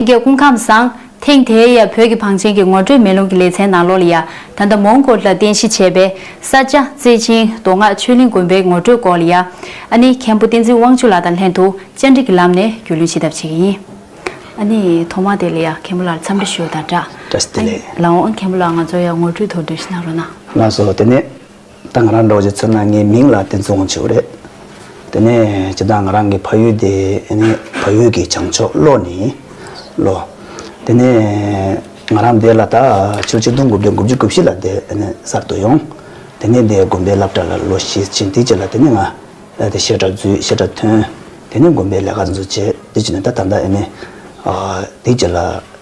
རྒྱ་སྐུ་ཁམས་བཟང། ཐེངས་དེའི་ཡ་བོད་ཀྱི་བང་ཆེན་གྱི་ངོ་སྤྲོད་མེ་རླུང་གི་ལེ་ཚན་ནང་ལོ་ལ་ཡ། ད་ལྟ་མོང་གོལ་ལ་རྟེན་གཞི་བྱས་པའི། ས་སྐྱ། རྩེ་ཆེན། མདོ་སྔགས་ཆོས་གླིང་དགོན་པའི་ངོ་སྤྲོད་སྐོར་ལ་ཡ། ཨ་ནི་མཁན་པོ་བསྟན་འཛིན་དབང་ཕྱུག་ལགས་དང་ལྷན་དུ་བཅར་འདྲི་གྱི་ལམ་ནས་རྒྱུས་ལོན་བྱེད་ཐབས་བྱེད་ཀྱི་ཡིན། ཨ་ནི་ཐོག་མ་དེ་ལ་ཡ་མཁན་པོ་ལགས་འཚམས་འདྲི་ཞུ་དང་སྦྲགས། ཨ་ནི་ལའོ་ཨ་མཁན་པོ་ལགས་ང་ཚོར་ཡ་ངོ་སྤྲོད་ཐོག་འགྲེལ་བཤད་གནང་རོགས་གནང། ང་སོ་དེ་ནས། ད་ང་རང་འགྲོ་རྒྱུ་ཚོད་ན་ངའི་མིང་ལ་དེ་ཚོ་འོང་ཆོག་གི་རེད། དེ་ནས་ཇི་ལྟར་ང་རང་གི་ཕ་ཡུལ་དེ་ནི་ཕ་ཡུལ་གྱི་བྱང་ཕྱོགས་བློ་ནི་བློ། དེ་ནས་ང་རང་དེ་ལ་ད་ཆུ་གཅིག་སྟོང་དགུ་བརྒྱ་དགུ་བཅུ་དགུ་བཞི་ལ་དེ་ནི་གསར་དུ་ཡོང། དེ་ནས་དེ་དགོན་པའི་བླ་བྲ་ལ་ལོ་ཞེ་གཅིག་འདི་གཅིག་ལ་དེ་ནི་ང་ལ་དེ་བཤད་གྲྭ་བརྫུས་བཤད་གྲྭ་ཐོན། དེ་ནས་དགོན་པའི་ལས་ཀ་འཛུགས་བྱས་འདི་གཅིག་ནས་ད་ད་ལྟ་ཨེ་ནི། འདི་གཅིག་ལ།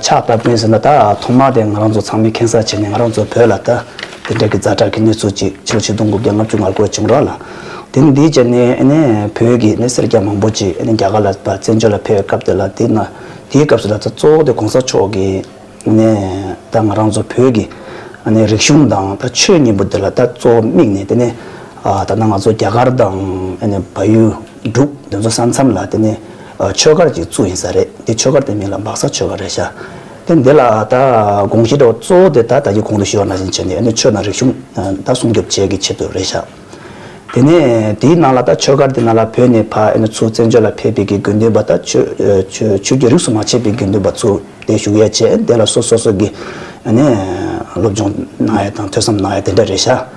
ཆགས་པ་ཀུན་ཟེར་ན་ད་ཐོག་མར་དེ་ང་རང་ཚོ་ཚང་མས་ཁེངས་ས་བྱས་ནས་ང་རང་ཚོ་བོད་ལ་ད་དེ་འདྲ་གི་རྫ་དྲག་གི་གནས་ཚུལ་ཅིག་ཕྱི་ལོ་ཆིག་སྟོང་དགུ་བརྒྱ་ལྔ་བཅུ་ལྔར་གོ་བྱུང་རོགས་ལ། དེ་ནི་འདིའི་རྗེས་ནས་བོད་ཀྱི་ནས་སེར་སྐྱ་མང་པོ་ཅིག་རྒྱ་གར་ལ་བཙན་བྱོལ་ལ་ཕེབས་སྐབས་དེ་ལ་དེ་ན་དེའི་སྐབས་སུ་ད་ད་གཙོ་བོ་དེ་གོང་ས་མཆོག་གི་ནས་ད་ང་རང་ཚོ་བོད་ཀྱི་ནས་རིག་གཞུང་དང་ད་ཆོས་གཉིས་པོ་དེ་ལ་ད་གཙོ་བོ་དམིགས་ནས་དེ་ནས་ད་ད་ང་ཚོ་རྒྱ་གར་དང་བལ་ཡུལ་འབྲུག་དེ་ཚོ་ས་མཚམས་ལ་དེ་ནས། ཆོས་སྒར་གྱི་གཙོ་ཡིན་ས་རེད་དེ་ཆོས་སྒར་དེ་མིང་ལ་འབག་ས་ཆོས་སྒར་རེད་ཤག་དེ་འདི་ལ་ད་དགོངས་བཞེས་འདྲ་བ་གཙོ་བོ་དེ་ད་ལྟ་གྱི་གོང་དུ་ཞུ་བ་ནང་བཞིན་བྱས་ནས་ནི་ཆོས་དང་རིག་གཞུང་ད་སྲུང་སྐྱོབ་བྱེད་ཀྱི་ཆེད་དུ་རེད་ཤག་དེ་ནས་དེའི་ནང་ལ་ད་ཆོས་སྒར་དེ་ནང་ལ་བོད་ནས་ཕ་ཨེ་ནི་ཚུ་བཙན་བྱོལ་ལ་ཕེབས་པའི་གི་དགོས་འདུན་པ་ད་ཆོས་ཀྱི་རིགས་སུ་མ་ཆད་པའི་དགོས་འདུན་པ་ཚུ་དེ་བཞུགས་ཡས་བྱས་འདི་ལ་སོ་སོ་སོ་གི་ཨེ་ནི་སློབ་སྦྱོང་གནང་ཡས་དང་ཐོས་བསམ་གནང་ཡས་དེ་འདྲ་རེད་ཤག།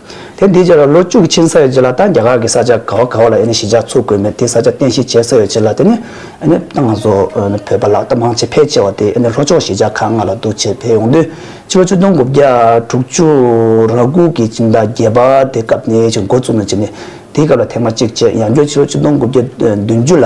དེ་འདི་ལོ་བཅུ་གཅིག་ཕྱིན་ས་ཡོད་ཅེ་ལ་ད་རྒྱ་གར་གི་ས་ཆ་ག་བ་ག་བ་ལ་ཡེ་ནས་ཞི་འཇགས་ཚུགས་དགོས་མེད་དེ་ས་ཆ་རྟེན་གཞི་བྱས་ས་ཡོད་ཅེ་ལ་དེ་ནི་ཏང་ང་ཚོ་བོད་པ་ལག་བསྟར་མང་ཆེ་ཕལ་ཆེ་བ་དེ་ནི་ལྷོ་ཕྱོགས་ཞི་འཇགས་ཁག་ལྔ་ལ་འདུ་བྱེད་དེ་ཡོང་དུས་ཕྱི་ལོ་བཅུ་སྟོང་དགུ་བརྒྱ་དྲུག་བཅུ་ར་དགུ་གི་སྤྱི་ཟླ་བརྒྱད་པ་དེ་སྐབས་ནས་ཅིག་འགོ་བཙུགས་ནས་ཅིག་ནས་དེའི་སྐབས་ལ་ཐེངས་མ་གཅིག་བྱས་ཡང་བསྐྱར་ཕྱི་ལོ་བཅུ་སྟོང་དགུ་བརྒྱ་བདུན་ཅུ་ལ།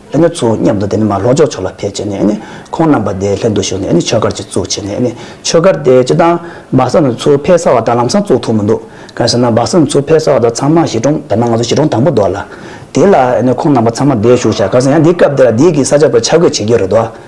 ཨ་ནི་ཚོ་མཉམ་དུ་དེ་ནས་མ་ལྷོ་ཕྱོགས་ཕྱོགས་ལ་ཕེབས་བྱས་ནས་ཁོང་རྣམས་པ་དེའི་ལྷན་དུ་བཞུགས་ནས་ཆོས་སྒར་གཅིག་བཙུགས་བྱས་ནས་ཆོས་སྒར་དེ་སྤྱི་དང། སྦག་ས་ནི་ཚོ་ཕལ་ས་བ་དང་ལམ་སང་བཙུགས་ཐུབ་མི་འདུག་གང་ཟེར་ན་སྦག་ས་ནི་ཚོ་ཕལ་ས་བ་དང་ཚང་མ་གཞིས་གྲོང་དེ་ན་ང་ཚོ་གཞིས་གྲོང་དང་པོ་འདུག་ལ། དེ་ལ་ཁོང་རྣམས་པ་ཚང་མ་དེ་བཞུགས་བྱ་གང་ཟེར་ཡང་འདི་སྐབས་འདི་ལ་འདི་གི་ས་ཆ་བོད་ཆ་བགོས་བྱེད་རྒྱུ་རེད་དོ།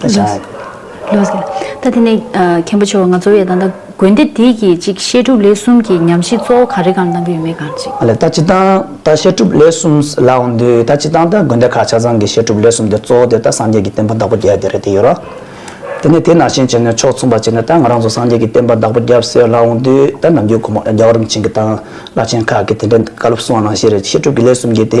ད་ཆ། ལོ་ཟེར། ད་དེ་ནས་མཁན་པོ་ཆེ་བ་ང་ཚོ་ཡ་ད་ད་དགོན་སྡེ་འདི་གི་གཅིག་བཤད་སྒྲུབ་ལས་གསུམ་གྱི་ཉམས་ཞིབ་གཙོ་བོ་ག་རེ་གང་གཏང་གི་ཡོད་མེད་གང་ཅིག། ལེ་ད་ཅི་སྟང་ད་བཤད་སྒྲུབ་ལས་གསུམ་ལ་འོང་དུས་ད་ཅི་སྟང་ད་དགོན་སྡེ་ཁག་ཆ་ཚང་གི་བཤད་སྒྲུབ་ལས་གསུམ་དེ་གཙོ་བོ་དེ་ད་སངས་རྒྱས་ཀྱི་བསྟན་པ་བདག་པོ་བརྒྱད་དེ་རེད་དེ་ཡོད་རོ། དེ་ནས་དེ་ནང་བཞིན་བྱས་ནས་ཕྱོགས་མཚུངས་པ་བྱས་ནས་ད་ང་རང་ཚོ་སངས་རྒྱས་ཀྱི་བསྟན་པ་བདག་པོ་བརྒྱད་ཟེར་ལ་འོང་དུས་ད་ནམ་རྒྱུན་གོང་མ་རྒྱ་གར་རིམ་བྱོན་གྱི་དང་བླ་ཆེན་ཁག་གི་དེ་འདྲའི་བཀའ་སློབ་གསུང་བ་ནང་བཞིན་རེད་བཤད་སྒྲུབ་ཀྱི་ལས་གསུམ་གྱི་དེ་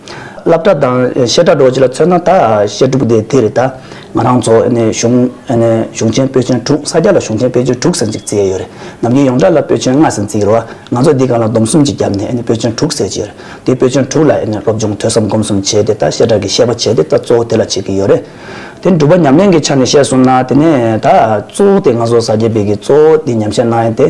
བླ་བྲ་དང་བཤད་གྲྭ་འགྲོགས་བྱེད་ལ་མཚོན་ན་ད་བཤད་སྒྲུབ་སྡེ་དེ་རེད་ད། ང་རང་ཚོ་གཞུང་ཆེན་པོད་ཆེན་དྲུག་ས་སྐྱ་ལ་གཞུང་ཆེན་པོད་ཆེན་དྲུག་ཟེར་གཅིག་བརྩིས་ཡོད་རེད་ནམ་རྒྱུན་ཡོངས་གྲགས་ལ་པོད་ཆེན་ལྔ་ཟེར་བརྩིས་ཡོད་རེད་བ་ང་ཚོ་འདི་ག་ལ་སྡོམ་གསུམ་གྱི་རྒྱབ་ནས་པོད་ཆེན་དྲུག་ཟེར་གྱི་ཡོད་རེད་དེ་པོད་ཆེན་དྲུག་ལ་སློབ་སྦྱོང་ཐོས་བསམ་སྒོམ་གསུམ་བྱས་ཏེ་ད་བཤད་གྲྭ་གི་བཤད་པ་བྱས་ཏེ་ད་གཙོ་བོ་དེ་ལ་བྱེད་ཀྱི་ཡོད་རེད་དེ་སྒྲུབ་པ་ཉམས་ལེན་གྱི་ཆ་ནས་བཤད་གསུམ་ན་དེ་ནས་ད་གཙོ་བོ་དེ་ང་ཚོ་ས་སྐྱའི་བེད་ཀྱི་གཙོ་བོ་དེ་ཉམས་བཤད་གནང་ཡིན་ཏེ།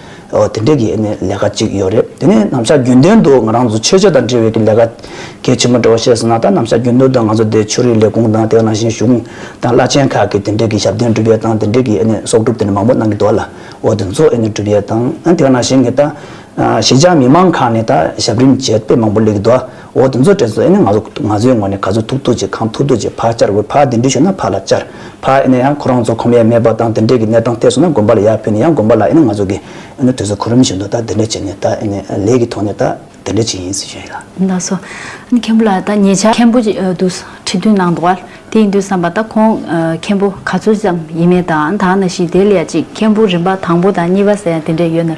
ཨོ་དེ་འདྲའི་གི་ནི་ལས་ཀ་གཅིག་ཡོད་རེད་དེ་ནི་ནམ་ཞག་རྒྱུན་ལྡན་དུ་ང་རང་ཚོ་ཆོས་བྱེད་དང་འབྲེལ་བའི་གི་ལས་ཀ་གལ་ཆེན་པོ་འདྲ་བ་བཤད་ཟིན་ན་ད་ནམ་ཞག་རྒྱུན་ལྡན་དུ་ང་ཚོ་འདིའི་ཆོས་རིག་ལས་ཁུངས་དང་དེ་ནང་བཞིན་གཞུང་དང་བླ་ཆེན་ཁག་གི་དེ་འདྲའི་གི་ཞབས་བརྟན་སྒྲུབ་ཡས་དང་དེ་འདྲའི་གི་ནི་གསོག་སྒྲུབ་དེ་ནི་མང་པོ་གནང་གི་འདུག་ལ་ཨོ་དེ་ཚོ་ནི་སྒྲུབ་ཡས་དང་དེ་ནང་བཞིན་གི་ད་ཞི་འཇགས་མི་མང་ཁག་ནི་ད་ཞབས་རིམ་བྱེད་དཔེ་མང་པོ་ལས་གི་འདུག། འོ་དེ་ཚོ་དྲན་སོང་ཨེ་ནས་ང་ཚོ་ང་ཚོའི་ངོ་ནས་ག་ཚོད་ཐུག་ཐུག་ཅིག་གང་ཐུག་ཐུག་ཅིག་ཕར་བཅར་དགོས་ཕར་དེ་འདྲི་ཞུས་ན་ཕར་ལ་བཅར་ཕར་ཨེ་ནས་ཡང་ཁོ་རང་ཚོ་ཁོམ་ཡས་མེད་པ་དང་དེ་འདྲས་ཀྱི་གནས་སྟངས་ཐད་སོང་ན་དགོན་པ་ལ་ཡར་ཕུད་ནས་ཡང་དགོན་པ་ལ་ཨེ་ནས་ང་ཚོ་གི་ཨེ་ནས་དུས་ཚོད་ཁོ་རུམ་བཞིན་དུ་ད་དེ་འདྲས་བྱས་ནས་ད་ཨེ་ནས་ལས་ཀྱི་ཐོག་ནས་ད་དེ་འདྲས་བྱས་ཡིན་ཟེར་བཞིན་ཡོད་ལ། ད་སོ། མཁན་པོ་ལ་ད་ཉེ་ཆར་མཁན་པོ་ཅིག་འདུག་ཁྲི་འདོན་གནང་འདུག་བ་དེ་ཡིན་དུས་བསམ་པ་ད་ཁོང་མཁན་པོ་ག་ཚོད་ཙམ་ཡིན་མིན་དང་དང་ན་བཞིན་དེ་ལ་ཡང་ཅིག་མཁན་པོ་རིམ་པ་དང་པོ་དང་གཉིས་པ་ཟེར་ཡང་དེ་འདྲས་ཡོད་ན།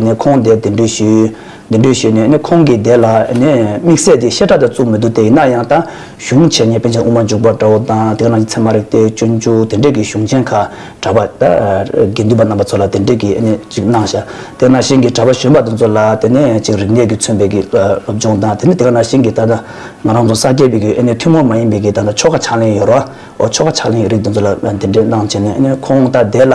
ནས་ཁོང་དེར་གདན་འདྲེན་ཞུས། གདན་འདྲེན་ཞུས་ནས་ཁོང་གིས་དེ་ལ་དམིགས་བསལ་གྱི་བཤད་གྲྭ་དེ་བཙུགས་མི་འདུག་དེ་ཡིན་ན་ཡང་ད་གཞུང་ཆེན་ཉེ་ཕན་ཆད་དབུ་མ་འཇུག་པར་དགྲ་བོ་དང་དེ་རྣམས་ཀྱི་ཚད་མ་རིག་སྟེ་སྤྱོད་འཇུག་དེ་འདྲས་ཀྱི་གཞུང་ཆེན་ཁ་གྲགས་པ་དགེ་འདུན་པ་རྣམ་པ་ཚོ་ལ་དེ་འདྲས་ཀྱི་ཅིག་གནང་བྱ། དེ་ན་ཞིང་གི་གྲྭ་པ་གཞོན་པ་དེ་ཚོ་ལ་དེ་ནས་ཅིག་རིག་གནས་ཀྱི་མཚོན་པའི་གི་སློབ་སྦྱོང་དང་དེ་ནས་དེ་ག་ན་ཞིང་གི་ད་ལྟ་ང་རང་ཚོ་ས་སྐྱའི་བའི་གི་ཐུན་མོང་མ་ཡིན་པའི་གི་ད་ལྟ་ཆོ་ག་ཕྱག་ལེན་ཡོ་རོ་ཆོ་ག་ཕྱག་ལེན་ཡི་རིགས་དེ་ཚོ་ལ་དེ་འདྲས་གནང་བྱས་ནས་ཁོང་ད་དེ་ལ།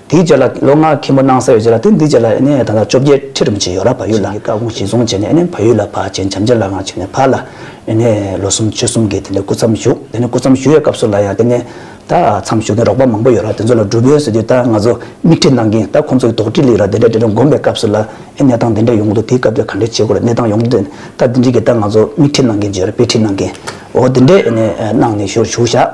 དེའི་རྗེས་ལ་ལོ་ལྔ་མཁན་པོ་གནང་ས་ཡོད་རྗེས་ལ་དེ་འདིའི་རྗེས་ལ་ནས་ད་ལྟ་བཅོ་བརྒྱད་ཁྲི་རིམ་བྱས་ཡོད་ལ་བ་ཡུལ་ལ་བཀའ་དགོངས་གཞི་བཟུང་བྱས་ནས་ནས་བ་ཡུལ་ལ་བ་ཆེན་བྱམས་རྗེ་ལའང་བྱས་ནས་བ་ལ་ནས་ལོ་གསུམ་ཆུ་གསུམ་གྱི་དེ་ནས་སྐུ་མཚམས་བཞུགས་དེ་ནས་སྐུ་མཚམས་བཞུགས་ཡས་སྐབས་སུ་ལ་ཡང་དེ་ནས་ད་མཚམས་བཞུགས་ནས་རོགས་པ་མང་པོ་ཡོད་ལ་དེ་ཚོ་ལ་སྒྲུབ་ཡོན་ཟེར་དུས་ད་ང་ཚོ་མིག་འཕྲི་གནང་གིན་ད་ཁོང་ཚོ་ཡི་དོགས་འདྲི་ལིག་ར་དེ་འདྲ་དེ་འདྲ་བསྒོམ་པའི་སྐབས་སུ་ལ་ནས་ཏང་དེ་འདྲ་ཡོང་གི་འདུག་དེའི་སྐབས་དེར་ག་འདྲའི་བྱེད་དགོས་རེད་ནས་ཏང་ཡོང་དུས་ད་དེ་འདྲི་གིན་ད་ང་ཚོ་མིག་འཕྲི་གནང་གིན་བརྗོད་རེད་དཔེ་འཕྲི་གནང་གིན་འོ་དེ་འདྲས་ནས་གནང་ནས་ཞུ་རུ་བཞུགས་ཞག་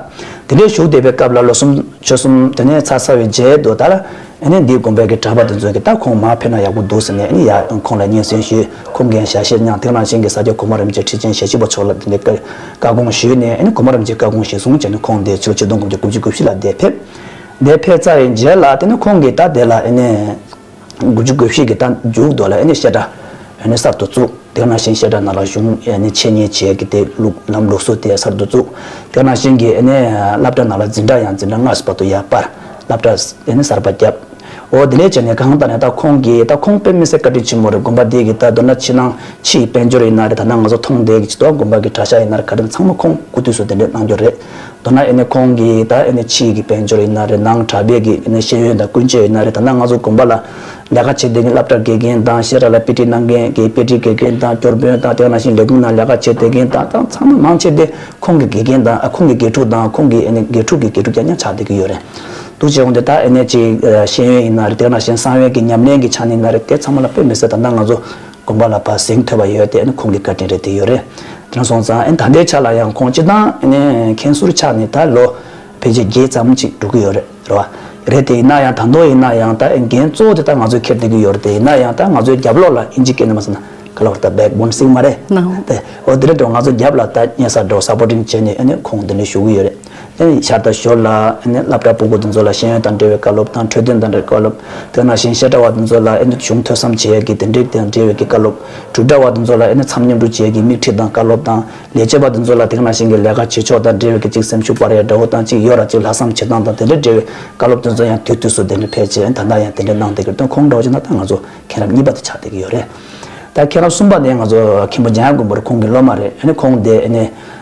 དེ་འདྲས་བཞུགས་བསྡད་པའི་སྐབས་ལ་ལོ་གསུམ། ཆོལ་གསུམ་དེ་ནས་ཚ་ཚ་བའི་མཇལ་དུ་ལྟར། ཨེ་ནས་འདིའི་དགོན་པའི་གི་གྲགས་པ་དེ་ཚོའི་གི་ད་ཁོང་མར་ཕེབས་ན་ཡག་པོ་འདུག་ཟེར་ནས་ཨེ་ནས་ཡག་ཁོང་ལ་སྙན་སེང་ཞུས་ཁོང་གིས་ཞལ་བཞེས་གནང་དེང་རང་བཞིན་གི་ས་སྐྱ་གོང་མ་རིམ་གྱི་ཁྲི་ཆེན་ཞལ་བཞེས་པ་མཆོག་ལ་འདི་ནས་བཀའ་དགོངས་ཞུས་ནས་ཨེ་ནས་གོང་མ་རིམ་གྱི་བཀའ་དགོངས་གཞི་བཟུང་བྱས་ནས་ཁོང་འདས་ཕྱིར་ཆིག་སྟོང་དགུ་བརྒྱ་དགུ་བཅུ་དགུ་བཞི་ལ་འདས་ཕེབས། འདས་ཕེབས་རྩ་བའི་མཇལ་ལ་དེ་ནས་ཁོང་གིས་ད་དེ་ལ་ཨེ་ནས། དགུ་བཅུ་དགུ་བཞི་གི་རྟ་རྒྱུག་རྡོ་ལ་བཤད་གྲྭ་གསར་དུ་བཙུགས། དེ་ནང་བཞིན་བཤད་གྲྭ་ནང་ལ་གཞུང་ཆེད་གཉེར་བྱས་ཀྱི་དེ་ལུགས་ལམ་ལུགས་སུ་དེ་གསར་དུ་བཙུགས། དེ་ནང་བཞིན་གྱི་བསླབ་གྲྭ་ནང་ལ་འཛིན་གྲྭ་ཡང་འཛིན་གྲྭ་སྔར་བསུ་བ་དུ་ཡར་སྤར། བསླབ་གྲྭ་གསར་པ་བརྒྱབ། འོ་དེ་ལས་བྱས་ནས་གང་ལྟར་ནས་རྟ་ཁོང་གི་རྟ་ཁོང་དཔེ་མི་སེར་བཀའ་དྲིན་ཆེན་མོ་རེད་དགོན་པ་འདི་གི་རྟ་རྡོ་ན་ཕྱི་ནང་ཕྱི་ཡི་དཔལ་འབྱོར་ཡིན་ན་རེད་ད་ནང་ང་ཚོ་མཐོང་བསྡད་ཀྱི་ཇི་ལྟོ་བ་དགོན་པ་གི་གྲྭ་ཤག་ཡིན་ནར་ག་དྲིན་ཚང་མ་ཁོང་སྐུ་དུས་སུ་དེ་འདྲས་གནང་རྒྱུ་རེད། ད་ནག་ཨེ་ནས་ཁོང་གི་ད་ཨེ་ནས་ཕྱིས་ཀྱི་དཔལ་འབྱོར་ཡིན་ན་རེད་ནང་གྲགས་རྒས་ཀྱི་ཨེ་ནས་ཤེས་ཡོན་དང་ཀུན་སྤྱོད་ཡིན་ན་རེད་ད་ནག་ང་ཚོ་དགོན་པ་ལ་ལས་ཀ་བྱེད་འདོད་མཁན་སླབ་གྲྭ་དགེ་རྒན་དང་བཤད་གྲྭ་ལ་དཔེ་ཁྲིད་གནང་མཁན་དགེ་དཔེ་ཁྲིད་དགེ་རྒན་དང་སྐྱོར་དཔོན་དང་དེ་ང་ནང་བཞིན་ལས་ཁུངས་ནང་ལས་ཀ་བྱེད་འདོད་མཁན་དང་དང་ཚང་མ་མང་ཆེ་དེ་ཁོང་གི་དགེ་རྒན་དང་ཨ་ཁོང་གི་དགེ་ཕྲུག་དང་ཁོང་གི་ཨེ་ནས་དགེ་ཕྲུག་གི་དགེ་ཕྲུག་ཀྱང་ཀྱང་ཆགས་འདོད་ཀྱི་ཡོད་རེད་འདུག་བྱས་འོང་དེ་ད་ཨེ་ནས་ཕྱིས་ཤེས་ཡོན་ཡིན་ན་རེད་དེ་ང་ནང་བཞིན་བསམ་ཡོད་ཀྱི་ཉམས་ལེན་གྱི་ཆ་ནས་ཡིན་ན་རེད་དེ་ཚང་མ་ལ་དཔེ་མི་སྲིད་ད་ནག་ང་ཚོ་དགོངས་པ་ལ་བར་གསེང་ཐོས་པ་ཡོད་དེ་ནི་ཁོང་གི་བཀའ་དྲིན་རེད་དེ་ཡོད་རེད་དྲན་སོང་ཙང་ད་ལྟའི་ཆ་ལ་ཡང་ཁོང་སྤྱི་བཏང་ནས་མཁན་ཟུར་ཆགས་ནས་ད་ལོ་ཕལ་ཆེར་བརྒྱད་ཙམ་ཅིག་འགྲོ་གི་ཡོད་རེད་ར་བ། རེད་དེ་ཡིན་ན་ཡང་དང་ཐོག་ཡིན་ན་ཡང་ད་འགན་གཙོ་བོ་དེ་ད་ང་ཚོས་འཁྱེར་བསྡད་ཀྱི་ཡོད་རེད་དེ་ཡིན་ན་ཡང་ད་ང་ཚོའི་རྒྱབ་ལོགས་ལ་ཨིན་ཇི་ཀེ་ན་མ་ཟེར་ན་ག་ལ་བར་ད་བེག་བོན་སིག་མ་རེད་དེ་འོ་དེ་རེད་དོ་ང་ཚོ་རྒྱབ་ལ་ད་གཉེན་ས་འགྲོ་སར་པོ་ཏིང་བྱས་ནས་ཨ་ནི་ཁོང་འདི་འདྲ་ཞུ་གི་ཡོད་རེད། ཤར་དང་ཞོར་ལ་བླ་གྲྭ་སྤུན་གོ་དེ་ཚོ་ལ་ཤེས་ཡོན་དང་འབྲེལ་བའི་བཀའ་སློབ་དང་འཕྲོས་དོན་དང་འབྲེལ་བའི་བཀའ་སློབ། དེ་ནང་བཞིན་བཤད་གྲྭ་བ་དེ་ཚོ་ལ་གཞུང་ཐོས་བསམ་བྱེད་ཡ་གི་དེ་འབྲེལ་དང་འབྲེལ་བའི་བཀའ་སློབ། གྲུབ་གྲྭ་བ་དེ་ཚོ་ལ་མཚམས་མཉམ་སྒྲུབ་བྱེད་ཡ་གི་དམིགས་ཁྲིད་དང་བཀའ་སློབ་དང། ལས་བྱེད་པ་དེ་ཚོ་ལ་དེང་ནང་བཞིན་གྱི་ལས་ཀ་བྱེད་ཕྱོགས་དང་འབྲེལ་བའི་གཅིག་སེམས་ཤུགས་སྤར་ཡ་འདྲ་བོ་དང་གཅིག་ཡོད་ར་གཅིག་ལྷག་བསམ་བྱེད་སྟངས་དང་དེ་འབྲེལ་འབྲེལ་བའི་བཀའ་སློབ་དེ་ཚོ་ཡང་དུས་དུས་སུ་དེ་འདྲ་ཕལ་ཆེར་ད་ལྟ་ཡང་དེ་འདྲ་གནང་བསྡད་གི་དོན་ཁོང་འདྲ་བོ་ཅིག་ན་ད་ང་ཚོ་མཁན་རབས་གཉིས་པ་དེ་ཆགས་བསྡད་ཀྱི་ཡོད་རེད། ད་མཁན་རབས་གསུམ་པ་དེ་ང་ཚོ་མཁན་པོ་འཇམ་དབྱངས་མགོན་པོ་རེད་ཁོང་གི་སློབ་མ་རེད་ཁོང་དེ།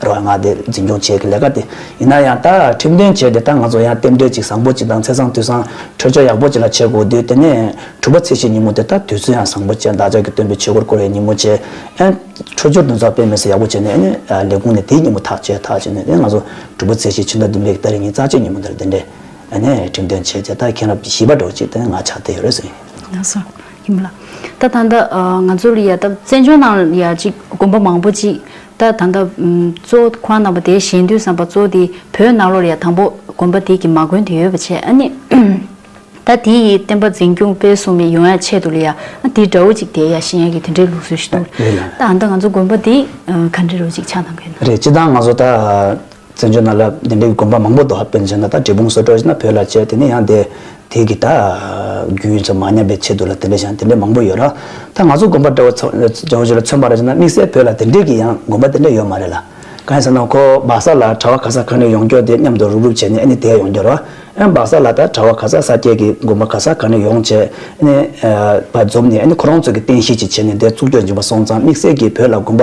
རོལ་དབྱངས་དེ་འཛིན་སྐྱོང་བྱེད་ཀྱི་ལས་ཀ་དེ་ཡིན་ན་ཡང་ད་ཁྲིམས་དོན་བྱས་ཏེ་ད་ང་ཚོ་ཡང་རྟེན་འབྲེལ་གཅིག་བཟང་པོ་གཅིག་དང་ཚེ་བཟང་དུས་བཟང་འཕྲོད་ཕྱོགས་ཡག་པོ་གཅིག་ལ་བྱེད་དགོས་དུས་དེ་ནས་དྲུག་པ་ཚེས་ཕྱེད་ཉིན་མོ་དེ་ད་དུས་ཚོད་ཡང་བཟང་པོ་བཅས་བདག་ཅག་གི་སྟོན་པའི་ཆོས་སྐོར་སྐོར་བའི་ཉིན་མོ་བཅས་ཨན། འཕྲོད་སྦྱོར་འདུ་ཚོགས་སྤེལ་མི་སེ་ཡག་པོ་བྱས་ནས་ཨན་ལས་ཁུངས་ནས་དེའི་ཉིན་མོ་ཐག་བཅད་ཐག་བཅད་ནས་དེ་ང་ཚོ་དྲུག་པ་ཚེས་ཕྱེད་ཕྱི་ཟླ་བདུན་པའི་ཟླ་རེ་གཉིས་རྩ་བཅད་ཉིན་མོ་འདིར་དེ་འདྲའི་ཨན་ཁྲིམས་དོན་བྱས་ཏེ་ད་མཁན་རབས་བཞི་པ་འགྲོ་ཅིག་དེ་ང་ཆགས་བསྡད་ཡོད་རེད་ཟེར། ཡང་སོང་ཡིན་མོད་ལ་ད་ད་ལྟ་ང་ཚོར་ཡ་ད་བཙན་བྱོལ་ནང་ཡ་གཅིག་དགོན་པ་མང་པོ་གཅིག་ད་ད་ད། གཙོ་བོ་ཁོ་རང་ནང་པ་དེའི་གཞན་དུས་བསམ་པ་གཙོ་བོ་དེ་བོད་ནང་ལོར་ཡང་དང་པོ་དགོན་པ་དེ་གི་མ་དགོན་དེ་ཡོད་པ་བྱས་ཨ་ནི། ད་དེ་ཡི་བསྟན་པ་འཛིན་སྐྱོང་སྤེལ་གསུམ་མི་ཡོང་ཡ་ཆེད་དུ་ལ་ཡ་ཨ་དེ་འདྲ་བོ་ཅིག་དེ་ཡ་གཞན་ཡ་གི་དེ་འདྲའི་ལུགས་སྲོལ་ཞིག་འདུག་ལ། ད་ད་ང་ཚོ་དགོན་པ་དེ་ག་འདྲི་རུ་ཅིག་ཆགས་གནང་གི་ཡོད་ན། རེད་ཅི་ད་ང་ཚོ་ད། བཙན་བྱོལ་ན་ལབ་བདེན་པའི་དགོན་པ་མང་པོ་འདུག་ཧ་པན་ཆེན་ན་ད་འབྲས་སྤུངས་སོགས་སྤྲོ་ན་བོད་ལ་ཆས་དེ་ནས་ཡང་འདས་དེ་གི་ད་རྒྱུན་ཚོ་མ་ཉམས་པའི་ཆེད་དུ་ལ་དེ་འདྲས་ཞང་དེ་འདྲས་མང་པོ་ཡོད་ར་ད་ང་ཚོ་དགོན་པ་འདྲ་བོ་ཚོ་བྱོན་ལ་ཚོན་པ་ར་ཆེ་ན་དམིགས་བསལ་བོད་ལ་དེ་འདྲས་གི་ཡང་དགོན་པ་དེ་འདྲས་ཡོད་མ་རེད་ལ་གང་ཡིན་ཟེར་ན་ཁོ་སྦག་ས་ལ་གྲ་བ་ག་ས་གང་ནས་ཡོང་སྐྱོ་དེ་མཉམ་དུ་རུབ་རུབ་བྱས་ནས་ཨེ་ནི་དེ་ཡོང་རྒྱུ་ར་ཨེ་སྦག་ས་ལ་ད་གྲ་བ་ག་ས་ས་སྐྱས་གི་དགོན་པ་ག་ས་གང་ནས་ཡོང་བྱས་ཨེ་ནི་བ་འཛོམས་ནས་ཨེ་ནི་ཁོ་རང་ཚོ་གི་བསྟན་ཤིག་ཅིག་བྱས་ནས་འདས་ཚུགས་སྐྱོ་འཇིག་པ་སོང་ཙང་དམིགས་བསལ་གི་བོད་ལ་དགོན་པ།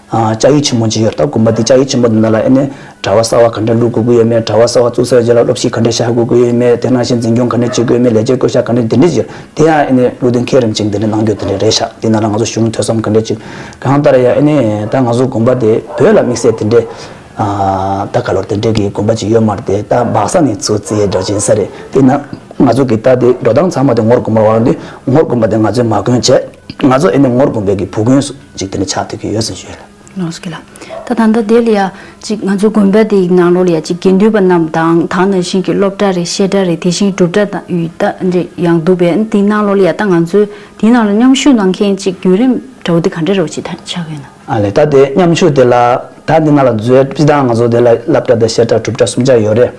ལྕགས་ཡིག་ཆེན་མོ་ཅི་ཡོད་ལྟ་དགོས་པ་དེ་ལྕགས་ཡིག་ཆེན་མོ་དེ་ནང་ལ་ཨེ་ནས་གྲྭ་བ་གསར་བ་ག་འདྲ་བླུག་དགོས་ཀྱི་ཡོད་མེད་གྲྭ་བ་གསར་བ་བཙུགས་ཚར་རྗེས་ལ་སློབ་ཞིག་ག་འདྲ་བཞག་དགོས་ཀྱི་ཡོད་མེད་དེ་ནང་བཞིན་འཛིན་སྐྱོང་ག་འདྲ་བྱེད་དགོས་ཡོད་མེད་ལས་བྱེད་བསྐོ་བཞག་ག་འདྲ་འདི་འདྲ་བྱེད་དེ་ཡང་ཨེ་ནས་བླུག་དེ་མཁས་རིམ་ཅིག་འདི་འདྲ་གནང་རྒྱུ་དེ་འདྲ་རེད་བཞག་འདི་ནང་ལ་ང་ཚོ་གཞུང་ཐོས་བསམ་ག་འདྲ་ཅིག་གང་ལྟར་ཡང་ཨེ་ནས་ད་ང་ཚོ་དགོན་པ་དེ་བོད་ལ་དམིགས་བསལ་དེ་འདྲས་ད་ག་ལོར་དེ་འདྲས་ཀྱི་དགོན་པ་ཅིག་ཡོད་མ་རེད་དེ་ད་འབག་ས་ནི་ཚོ་རྩིའི་སྒྲ་འབྱིན་ས་རེད་དེ་ན་ང་ཚོ་གི་ད་དེ་འགྲོ་སྟངས་ཚང་མ་དེ་ངོར་དགོན་པ་བ་འདི་ངོར་དགོན་པ་དེ་ང་ཚོའི་མ་དགོན་བྱས་ང་ཚོ་ཨེ་ནས་ངོར་དགོན་པའི་གི་བུ་དགོན་འཇིག་རྟེན་ལ་ཆགས་ཐུབ་ཀྱི་ཡོད་ཟེར་ཞོལ། ལོངས་སུ་གྱུར་ལ། ད་ད་ལྟ་དེ་ལ་ཡང་ཅིག་ང་ཚོ་དགོན་པ་དེའི་ནང་ལོགས་ལ་ཡང་ཅིག་དགེ་འདུན་པ་རྣམས་དང་དག་ན་ཤིང་གི་སློབ་གྲྭ་རེ་བཤད་གྲྭ་རེ་དེ་བཞིན་སྒྲུབ་གྲྭ་དང་ཡུལ་གྲྭ་རེ་ཡང་འདུག་པས་དེའི་ནང་ལོགས་ལ་ཡང་ད་ང་ཚོས་དེའི་ནང་ལ་མཉམ་ཞུགས་གནང་མཁན་ཅིག་བརྒྱུད་རིམ་གྲྭ་བོ་དེ་ག་འདྲ་རེ་བ་ཅིག་ད་ཆགས་ཡོད་ན། ཨ་ལས་ད་དེ་མཉམ་ཞུགས་དེ་ལ་ད་དེ་ང་ལ་མཛོད་ཅི་ད་ང་ཚོ་དེ་ལ་བསླབ་གྲྭ་དང་བཤད་གྲྭ་སྒྲུབ་གྲྭ་གསུམ་ཆགས་ཡོད་རེད།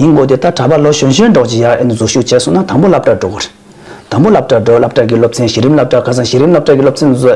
ཡིན་དགོས་དེ་ད་གྲྭ་པ་ལོ་གཞོན་གཞོན་འགྲོགས་ཅིག་ཡར་ཨེ་ནུ་འཛུལ་ཞུགས་བྱས་སོང་ན་དང་པོ་བསླབ་གྲྭར་འགྲོ་དགོས། དང་པོ་སློབ་གྲྭར་འགྲོ་སློབ་གྲྭ་གི་སློབ་ཚན་གཞི་རིམ་སློབ་གྲྭར་ཁ་སང་གཞི་རིམ་སློབ་གྲྭ་གི་སློབ་ཚན་བཟོ་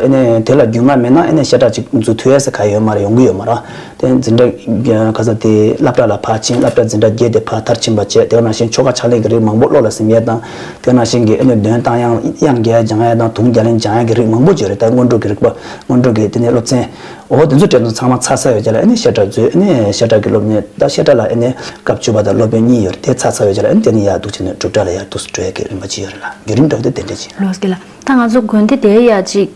དེ་ལ་རྒྱུས་མངའ་མེད་ན་ཤེས་བྱ་ཅིག་འཛུགས་ཐུ་ཡ་ས་ག་ཡོད་མ་རེད་ཡོང་གི་ཡོད་མ་རེད་དེ་འཛིན་གྲྭ་ཁ་སང་དེ་སླབ་གྲྭ་ལ་ཕར་ཕྱིན་སླབ་གྲྭ་འཛིན་གྲྭ་བརྒྱད་དེ་ཕར་ཐར་ཕྱིན་པ་བཅས་དེ་ནང་བཞིན་ཆོ་ག་ཕྱག་ལེན་གྱི་རིགས་མང་པོ་བློ་ལ་སིམ་ཡས་དང་དེ་ནང་བཞིན་གྱི་འདོན་སྟངས་དབྱངས་རྒྱལ་སྦྱང་ཡས་དང་དུང་རྒྱ་ལེན་སྦྱང་ཡས་ཀྱི་རིགས་མང་པོ་བཅས་རེད་ད་སྔོན་འགྲོ་གི་རིག་པ་སྔོན་འགྲོ་གི་དེ་ནས་སློབ་ཚན། འོ་དེ་ཚོ་དྲན་ཚོ་ཚང་མ་ཚ་ཚ་ཡོད་ཀྱི་ལ་ཨེ་ནས་ཤ་ཁྲག་མཛོད་ཨེ་ནས་ཤ་ཁྲག་གི་སློབ་གཉེར་ད་ཤ་ཁྲག་ལ་ཨེ་ནས་སྐབས་བཅུ་པ་དང་སློབ་དཔོན་གཉིས་ཡོད་རེད་དེ་ཚ་ཚ་ཡོད་ཀྱི་ལ་ཨེ་ནས་དེ་ནི་ཡག་འདུག་བྱས་ནས་སྒྲུབ་གྲྭ་ལ་ཡར་འདུག་སྤྲོད་ཀྱི་རིན་པོ་ཆེ་ཡོད་རེད་ལ་རྒྱུན་རིང་འགྲོ་གི་དེ་འདྲ་བྱས། ལོས་ཀྱི་ལ་ད་ང་ཚོ་དགོན་སྡེ་དེའི་ཡག་ཅིག་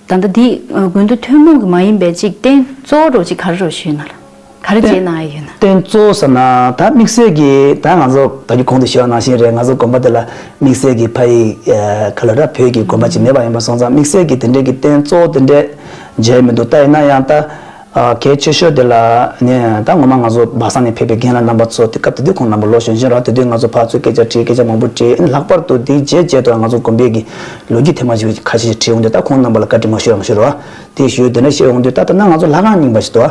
ད་ལྟ་འདི་དགོན་སྡེ་ཐུན་མོང་གི་མ་ཡིན་པའི་ཅིག་རྟེན་གཙོ་བོ་རོ་གཅིག་ག་རེ་རོ་ཞུས་ན་ལ། ག་རེ་བྱས་གནང་ཨེ་ཡོད་ན། རྟེན་གཙོ་བོ་ཟེར་ན་ད་དམིགས་བསལ་གྱི་ད་ང་ཚོ་ད་རྒྱུད་གོང་དུ་བཤད་པ་ནང་བཞིན་རེད་ང་ཚོ་དགོན་པ་དེ་ལ་དམིགས་བསལ་གྱི་ཕ་ཡིག་ག་ལ་ར་བོད་ཀྱི་དགོན་པ་ཅིག་མེད་པ་ཡིན་པ་སོང་ཙང་དམིགས་བསལ་གྱི་དེ་འདྲའི་གི་རྟེན་གཙོ་བོ་དེ་འདྲས་མཇལ་མི་འདུག་ད་ཡིན་ན་ཡང་ད་གལ་ཆེ་ཤོས་དེ་ལ་ནི་ད་ངོ་མ་ང་ཚོ་སྦག་སང་ནས་ཕེབས་པའི་རྒན་ལགས་རྣམ་པ་ཚོ་དེ་སྐབས་དེ་དུས་ཁོང་རྣམ་པ་ལོ་གཞོན་གཞོན་རག་དེ་དུས་ང་ཚོ་ཕག་ཚོས་སྐད་ཆ་དྲིས་སྐད་ཆ་མང་པོ་དྲིས་ཨེ་ལྷག་པར་དུ་དེའི་རྗེས་རྗེས་དུའང་ང་ཚོ་དགོན་པའི་གི་ལོ་རྒྱུས་ཐེངས་མང་ཞིག་ཁ་ཤས་ཤིག་དྲིས་འོང་དུས་ད་ཁོང་རྣམ་པ་ལ་བཀའ་དྲིན་མ་ཞུ་རང་ཞུ་རོགས་ཨ་དེ་ཞུ་དེ་འདྲ་བཤད་འོང་དུས་ད་ད་ནང་ང་ཚོ་ལྷ་ཁང་རྙིང་པ་ཞིག་ཏུ་ཨ།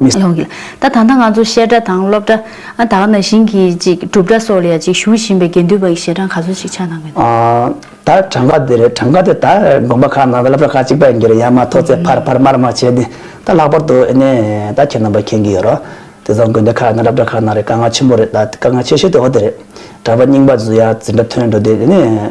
མི་ལོག་གི། ད་ད་ལྟ་ང་ཚོ་བཤད་གྲྭ་དང་སློབ་གྲྭ། ཨ་ད་ང་ན་ཞིང་གི་ཅིག་སྒྲུབ་གྲྭ་སོགས་ལ་ཡང་ཅིག་བཞུགས་བཞིན་པའི་དགེ་འདུན་པ་ཡི་ཞལ་གྲངས་ག་ཚོད་ཅིག་ཆ་ནང་གི་འདུག། ད་གྲངས་ཀ་དེ་རེད་གྲངས་ཀ་དེ་ད་དགོན་པ་ཁག་ནང་དང་སློབ་གྲྭ་ཁག་ཅིག་པ་ཡིན་གྱི་རེད་ཡང་མ་ཐོག་ཚེ་ཕར་ཕར་མར་མར་བྱས་ཏེ་ད་ལྷག་པར་དུ་ཨེ་ནས་ད་ཁྱེད་རྣམ་པ་མཁྱེན་གྱི་ཡོད་རོགས། དེ་ཚོ་དགོན་སྡེ་ཁག་དང་སློབ་གྲྭ་ཁག་ནང་རེད་དཀའ་ངལ་ཆེན་པོ་རེད་ད་དཀའ་ངལ་ཆེ་ཤོས་དེ་འོ་དེ་རེད། གྲྭ་པ་རྙིང་པ་ཚོས་ཡ་ཛི་འདྲ་ཐོན་འགྲོ་དེ་ཨེ་ནས།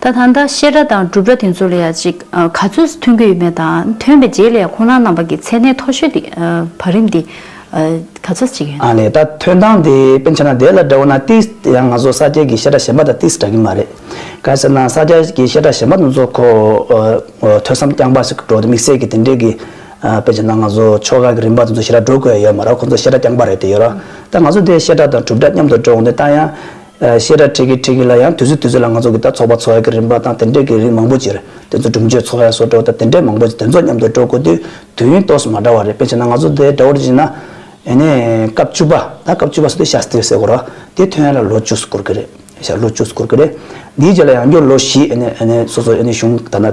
ད་ད་ལྟ་བཤད་སྒྲ་དང་སྒྲུབ་སྒྲ་དེ་ཚོ་ལ་ཡང་ཅིག་ག་ཚོད་མཐུན་གྱི་ཡོད་མེད་དང་མཐུན་པའི་རྗེས་ལས་ཡང་ཁོང་རང་རྣམ་པ་གྱི་མཚན་གནས་མཐོ་ཤོས་དེ་བར་རིམ་དེ་ག་ཚོད་ཅིག་ཡོད། ཨ་ལས་ད་ཐོན་སྟངས་དེ་དཔེ་མཆན་ན་དེ་ལ་འདྲ་བོ་ན་ཏིས་དེ་ཡང་ང་ཚོ་ས་སྐྱའི་གི་བཤད་སྒྲ་གཞན་པ་དང་ཏིས་འདྲ་གི་མ་རེད། ག་ཟེར་ན་ས་སྐྱ་གི་བཤད་སྒྲ་གཞན་པ་དེ་ཚོ་ཁོ་ཐོས་བསམ་རྐྱང་པ་ཞིག་འགྲོ་དེ་དམིགས་བསལ་གྱི་དེ་འདྲའི་གི་དཔེ་མཆན་ན་ང་ཚོ་ཆོ་ག་གི་རིམ་པ་དེ་ཚོ་ཞེ་དྲག་འགྲོ་དགོས་ཡོད་མ་རེད་ཁོ་ཚོ་བཤད་སྒྲ་རྐྱང་པ་རེད་དེ་ཡོད་ར། ད་ང་ཚོ་དེ་བཤད་སྒྲ་དང་སྒྲུབ་སྒྲ་མཉམ་དུ་འགྲོ་འོང་དེ་ད་ཡང། བཤད་གྲྭ་ཁྲིད་ཀྱི་ཁྲིད་ཀྱི་ལ་ཡང་དུས་ཚོད་དུས་ཚོད་ལ་ང་ཚོ་གིས་ད་ཚོགས་པ་ཚོགས་ཡ་གི་རིམ་པ་དང་དེ་འདྲས་ཀྱི་རིགས་མང་པོ་ཅིར་དེ་ཚོ་སྒྲུབ་མཆོད་ཚོགས་ཡ་སོགས་འགྲོ་ད་དེ་འདྲས་མང་པོ་ཅིག་དེ་ཚོ་མཉམ་དུ་འགྲོ་དགོས་དུས་དུས་ཡུན་ཏོགས་སུ་མ་འདྲ་བ་རེད་དཔེ་བྱས་ན་ང་ཚོ་དེ་འདྲ་བོ་རེ་བྱས་ན། ཡེ་ནས་སྐབས་བཅུ་པ་ད་སྐབས་བཅུ་པ་སོགས་དེ་ཤ་སྟིར་ཟེར་དགོས་རོ་དེ་ཐོན་ཡ་ལ་ལོ་བཅུ་སུ་འགོར་གྱི་རེད་ཤ་ལོ་བཅུ་སུ་འགོར་གྱི་རེད་འདིའི་རྗེས་ལ་ཡང་སྐྱོར་ལོ་བཞི་ཡེ་ནས་ཡེ་ནས་སོ་སོ་ཡེ་ནས་གཞུང་ད་ན།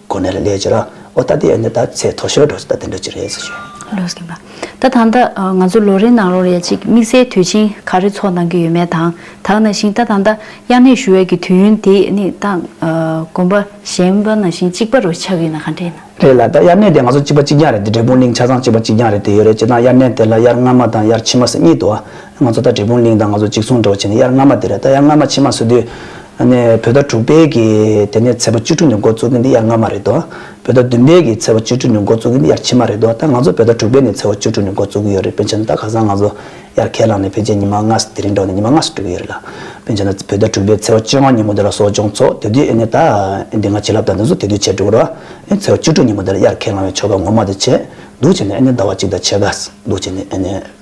གོ་ནས་ལ་ལས་ཀྱི་ར་ཨོ་ད་དེ་ཨེ་འདི་ད་ཚེ་ཐོ་ཤོར་འགྲོ་ཟེ་ད་དེ་འདྲ་ཅི་རེད་ཟེ་ཞོད། ལོས་གིན་པ། ད་ད་ད་ང་ཚོ་ལོ་རེའི་ནང་རོ་རེ་གཅིག་དམིགས་བསལ་དུས་ཆེན་ག་རེ་ཚོགས་གནང་གི་ཡོད་མེད་དང་དག་ན་ཞིང་ད་ད་ད་དབྱར་གནས་ཞུ་བའི་གི་དུས་ཡུན་དེ་ནི་ད་དགོན་པ་གཞན་པ་ན་ཞིང་གཅིག་པ་རོ་ཆགས་གི་ན་ག་འདྲས་ན། རེད་ལ་ད་དབྱར་གནས་དེ་ང་ཚོ་གཅིག་པ་གཅིག་རྐྱང་རེད་དེ་འབྲས་སྤུངས་གླིང་ཆ་ཚང་གཅིག་པ་གཅིག་རྐྱང་རེད་དེ་ཡོད་རེད་ཅེ་ན་དབྱར་གནས་དེ་ལ་དབྱར་ཕྱི་མ་ཟེ་གཉིས་འདུག་ཨ་ང་ཚོ་ད་དྲིལ་བུང་གླིང་དང་ང་ཚོ་གཅིག་མཚུངས་འདྲ་བོ་བྱས་ནས་དབྱར་སྔ་མ་དེར་ད་དབྱར་སྔ་མ་ཕྱི་མ་བཟོ་དུས། ནས་བོད་ཟླ་དྲུག་པའི་གི་དེ་ནས་ཚེས་པ་བཅུ་དྲུག་ནས་འགོ་བཙུགས་གིན་འདི་དབྱར་སྔ་མ་རེད་དོ། བོད་ཟླ་བདུན་པའི་གི་ཚེས་པ་བཅུ་དྲུག་ནས་འགོ་བཙུགས་གིན་འདི་དབྱར་ཕྱི་མ་རེད་དོ་ད་ང་ཚོ་བོད་ཟླ་དྲུག་པའི་ནས་ཚེས་བ་བཅུ་དྲུག་ནས་འགོ་བཙུགས་གི་ཡོད་རེད་དཔེ་བྱས་ན་ད་ག་སང་ང་ཚོ་དབྱར་ཁས་བླངས་ནས་ཕལ་ཆེར་ཉི་མ་ལྔ་དེ་རིང་འགྲོ་ནས་ཉི་མ་ལྔ་སུ་འགྲོ་གི་ཡོད་རེད་ལ། དཔེ་བྱས་ན་བོད་ཟླ་དྲུག་པའི་ཚེས་བ་བཅོ་ལྔ་ཉིན་མོ་དེ་ལ་གསོ་སྦྱོང་ཚོགས་དེ་དུས་ཨེ་ནས་ད་ཨེ་འདི་ང་བྱིན་རླབས་དང་འདི་ཚོ་དེ་དུས་བྱས་འགྲོ་གི་རོ། ཨེ་ཚེས་བ་བཅུ་དྲུག་ཉིན་མོ་དེ་ལ་དབྱར་ཁས་བླངས་བའི་ཆོ་ག་ངོ་མ་དེ་བྱས་འདུག་བྱས་ནས་ཨེ་ནས་ཟླ་བ་གཅིག་དང་ཕྱེད་ཀ་འདུག་བྱས་ནས་ཨེ་ནས།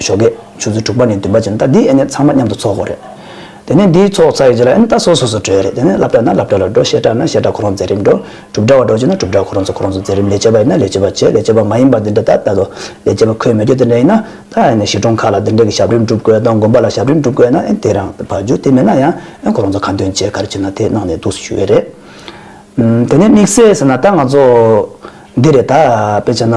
ཞོ་སྒེག་ཆུ་ཚོད་དྲུག་པ་ནས་བདུན་པ་བྱས་ན་ད་འདིས་ཨེ་ནས་ཚང་མ་མཉམ་དུ་ཚོགས་དགོས་རེད། དེ་ནས་འདིས་ཚོགས་ཚར་ཡོད་རྗེས་ལ་ཨེ་ནས་ད་སོ་སོ་སོ་བྲོས་རེད་དེ་ནས་བསླབ་གྲྭ་ན་བསླབ་གྲྭ་ལ་འགྲོ་བཤད་གྲྭ་ན་བཤད་གྲྭ་ཁོ་རང་མཛད་རིམ་འགྲོ། གྲུབ་གྲྭ་བ་འགྲོ་བྱེད་ན་གྲུབ་གྲྭ་ཁོ་རང་ཚོ་ཁོ་རང་ཚོ་མཛད་རིམ་ལས་བྱེད་པ་ཡིན་ན་ལས་བྱེད་པ་བྱེད་ལས་བྱེད་པ་མ་ཡིན་པ་འདི་འདྲ་ད་ལྟ་དུ་ལས་བྱེད་པ་ཁོས་མི་སྐྱོ་དེ་འདྲ་ཡིན་ན་ད་ཨེ་ནས་གཞིས་གྲོང་ཁག་ལ་འདི་འདྲ་གི་ཞབས་རིམ་བསྒྲུབ་དགོས་དང་དགོན་པ་ལ་ཞབས་རིམ་བསྒྲུབ་དགོས་ན་ཨེ་དེ་རང་བར་རྒྱུ་དེ་མེད་ན་ཡང་ཨེ་ཁོ་རང་ཚོ་ག་འདོན་བྱེད་ག་རེ་བྱེད་ན་དེ་གནང་ནས་འདུག་སུ་ཞུ་ཡོད་རེད། དེ་ནས་དམིགས་བསལ་ཟེར་ན་ད་ང་ཚོ་འདི་རེད་ད་དཔེ་བྱས་ན།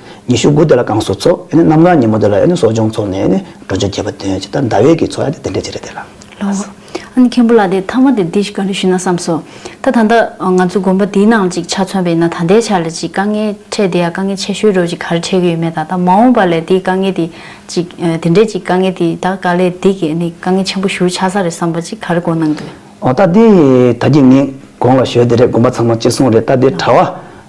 ཉི་ཤུ་དགུ་དེ་ལ་བསྐང་གསོ་ཚོགས། གནམ་གང་ཉིན་མོ་དེ་ལ་གསོ་སྦྱོང་ཚོགས་ནས་འགྲོ་ཆོས་རྒྱས་པ་སྟོན། ཇི་ལྟར་ཟླ་བའི་གི་ཚོགས་ཡང་དེ་འདྲའི་ཆེ་རེད་དེ་ལ། ལོ། ཨ་ནི་མཁན་པོ་ལ་དེ་ཐ་མ་དེ་འདི་ཞིག་ག་རེ་ཞུས་ན་བསམས་སོ། ད་ད་ལྟ་ང་ཚོ་དགོན་པ་འདིའི་ནང་གཅིག་ཆ་མཚོན་པ་ཡིན་ན་ད་ལྟའི་ཆར་ལ་ཅིག་དཀའ་ངལ་འཕྲད་དེ་ཡང་དཀའ་ངལ་ཆེ་ཤོས་རེད་ཅིག་ག་རེ་འཕྲད་གི་ཡོད་མེད་ད་ད་མ་འོངས་པ་ལས་དེའི་དཀའ་ངལ་དེ་ཅིག་དེ་འདྲའི་ཅིག་དཀའ་ངལ་དེ་ད་ག་ལས་དེ་གི་ནི་དཀའ་ངལ་ཆེན་པོ་ཞུ་ཆགས་ས་རེད་བསམས་པ་ཅིག་ག་རེ་གོ་སྣང་གི། ཨོ་ད་དེ་ད་ཀྱི་ངས་དགོངས་ལ་ཞོལ་དེ་རེད་དགོན་པ་ཚང་མ་གཅིག་མཚུངས་རེད་ད་དེ་གྲྭ་བ།